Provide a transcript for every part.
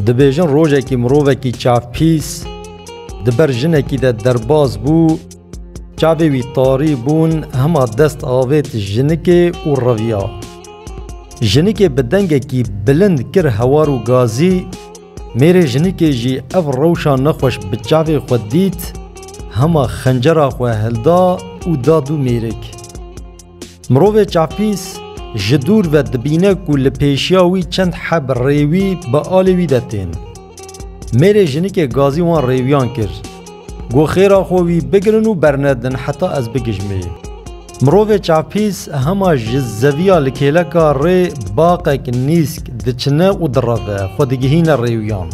Dibêjin rojekî mirovekî çavpîs di ber jinekî de derbas bû, çavê wî tarî bûn hema dest avêt jinikê û reviya. Jinikê bi dengekî bilind kir hewar û gazî, mêrê jinikê jî ev rewşa nexweş bi çavê xwe dît, hema xencera xwe hilda û da dû mêrik. Mirovê çavpîs ji dûr ve dibîne ku li pêşiya wî çend heb rêwî bi alê wî de tên. Mêrê jinikê gazî wan rêwiyan kir. Got xêra xwe wî bigirin û bernedin heta ez bigijmê. Mirovê çavpîs hema ji zeviya li kêleka rê baqek nîsk diçine û direve xwe digihîne rêwiyan.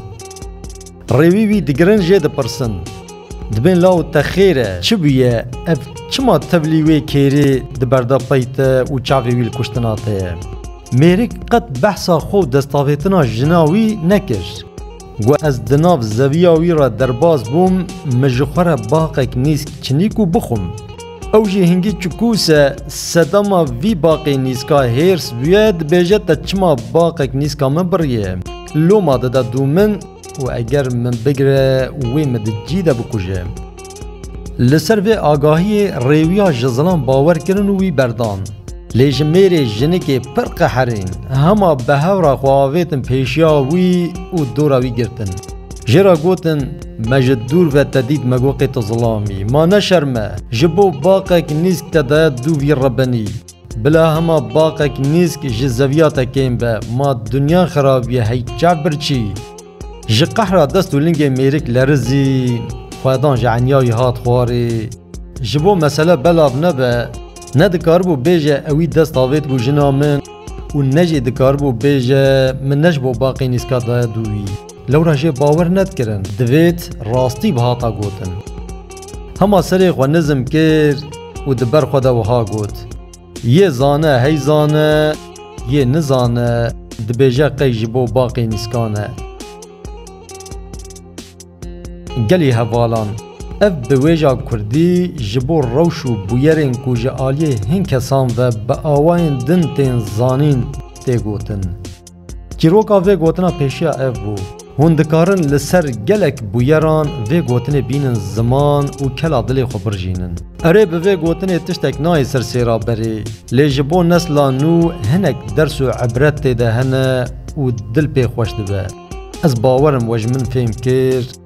Rêwî wî digirin jê dipirsin. Dibên law te xêr e. Çi bûye ev çima tevlî wê kêrê di berda pey te û çavê wî li kuştina te ye? Mêrik qet behsa xwe û destavêtina jina wî nekir. Got ez di nav zeviya wî re derbas bûm, min ji xwe re baqek nîsk çinîk û bixwim. Ew jî hingî çikûs e. Sedema vî baqê nîska hêrs bûye, dibêje te çima baqek nîska min biriye. Loma dide dû min û eger min bigire wê min di cî de bikuje. Li ser vê agahiyê rêwiya ji zilam bawer kirin û wî berdan. Lê ji mêrê jinikê pir qeherîn. Hema bi hewra xwe avêtin pêşiya wî û dora wî girtin. Jê re gotin. Me ji dûr ve te dît me goqê tu zilamî ma neşerme ji bo baqek nîsk te daye dû vîr re benî bila hema baqek nîsk ji zeviya te kêm be ma dinya xirabîye hey çav birçî ji qehra dest û lingê mêrik lerizî xwedan ji enyayî hat xwarê ji bo mesele belav nebe ne dikaribû bêje ewî dest avêt ku jina min û ne jî dikaribû bêje min ne ji bo baqê nîska daye dû wî. Lewra jê bawer nedkirin divêt rastî bihata gotin. Hema serê xwe nizm kir û di ber xwe de wiha got, Yê zane hey zane, yê nizane dibêje qey ji bo baqê nîskan e. Gelê hevalan, ev biwêja kurdî ji bo rewş û bûyerên ku ji aliyê hin kesan ve bi awayên din tên zanîn tê gotin. Çîroka vê gotina pêşiya ev bû, Hûn dikarin li ser gelek bûyeran vê gotinê bînin ziman û kela dilê xwe birjînin. Erê bi vê gotinê tiştek nayê ser sêra berê, lê ji bo nesla nû hinek ders û ibret tê de hene û dil pê xweş dibe. Ez bawer im we ji min fêm kir.